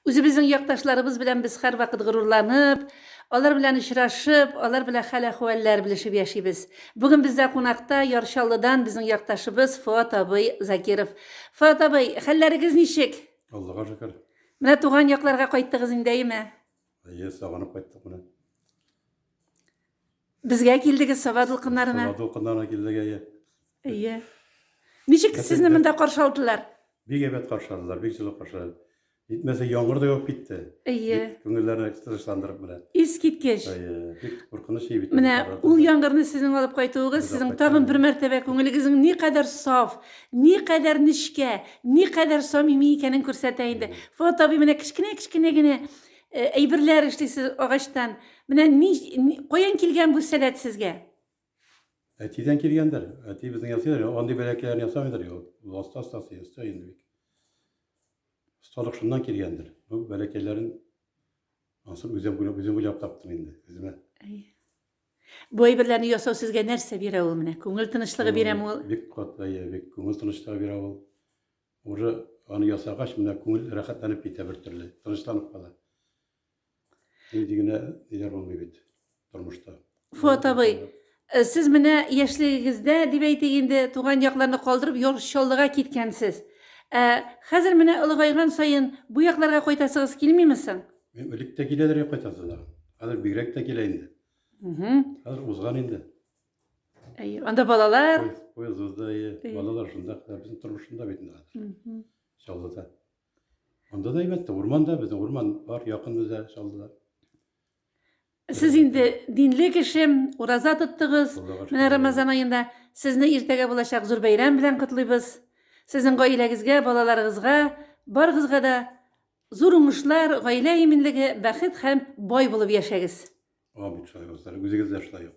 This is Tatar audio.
Үзебезнең якташларыбыз белән без һәрвакыт горурланып, алар белән очрашып, алар белән хәл-әхвәлләр белешеп яшибез. Бүген бездә кунакта Яр Чаллыдан безнең якташыбыз Фоат абый Закиров. Фоат абый, хәлләрегез ничек? Аллага шөкер. Менә туган якларга кайттыгыз инде, әйеме? Әйе, сагынып кайттык менә. Безгә килдегез Саба дулкыннарына. Саба дулкыннарына килдек, әйе. Әйе. Ничек сезне монда каршы алдылар? Бик әйбәт каршы алдылар, бик җылы каршы. Җитмәсә яңгыр да яуып китте. Әйе. Күңелләрне тынычландырып менә. Искиткеч. Әйе, бик куркыныч иде бит. Менә ул яңгырны сезнең алып кайтуыгыз, сезнең тагын бер мәртәбә күңелегезнең ни кадәр саф, ни кадәр нечкә, ни кадәр самими икәнен күрсәтә инде. Фуат абый менә кечкенә-кечкенә генә э, әйберләр эшлисез агачтан. Менә ни, ни каян килгән бу сәләт сезгә? Әтидән килгәндер. Әти безнең ясыйдыр. Андый бәләкәйләрне ясамыйдыр. Ласта стасы ясый инде бик. Осталык шуннан килгәндер. Бу бәләкәйләрен ансын үзем уйлап, үзем уйлап таптым инде. Үземә. Бу әйберләрне ясау сезгә нәрсә бирә ул менә? Күңел тынычлыгы бирәме ул? Бик катлы, бик күңел тынычлыгы бирә ул. Уже аны ясагач, менә күңел рәхәтләнеп китә бер төрле, тынычланып кала. Нинди генә ниләр булмый бит тормышта. Фуат абый, э, сез менә яшьлегегездә, дип әйтик инде, туган якларны калдырып, ял Чаллыга киткәнсез. Ә хәзер менә олыгайган саен бу якларга кайтасыгыз килмиме соң? Мин элек тә киләдер кайтасы да. Хәзер бигрәк тә килә инде. Хәзер узган инде. Әйе. Анда балалар. Поездда әйе. Балалар шунда, безнең тормышында бит инде хәзер. Чаллыда. Анда да әйбәт, урманда безнең урман бар, якын безгә Чаллыда. Сез инде динле кеше, ураза тоттыгыз. Менә Рамазан аенда сезне иртәгә булачак зур бәйрәм белән котлыйбыз. Сезнең гаиләгезгә, балаларыгызга, барыгызга да Зур уңышлар, гаилә иминлеге, бәхет һәм бай булып яшәгез! Амин, шаһивазлар, үзегез дә шулай ук!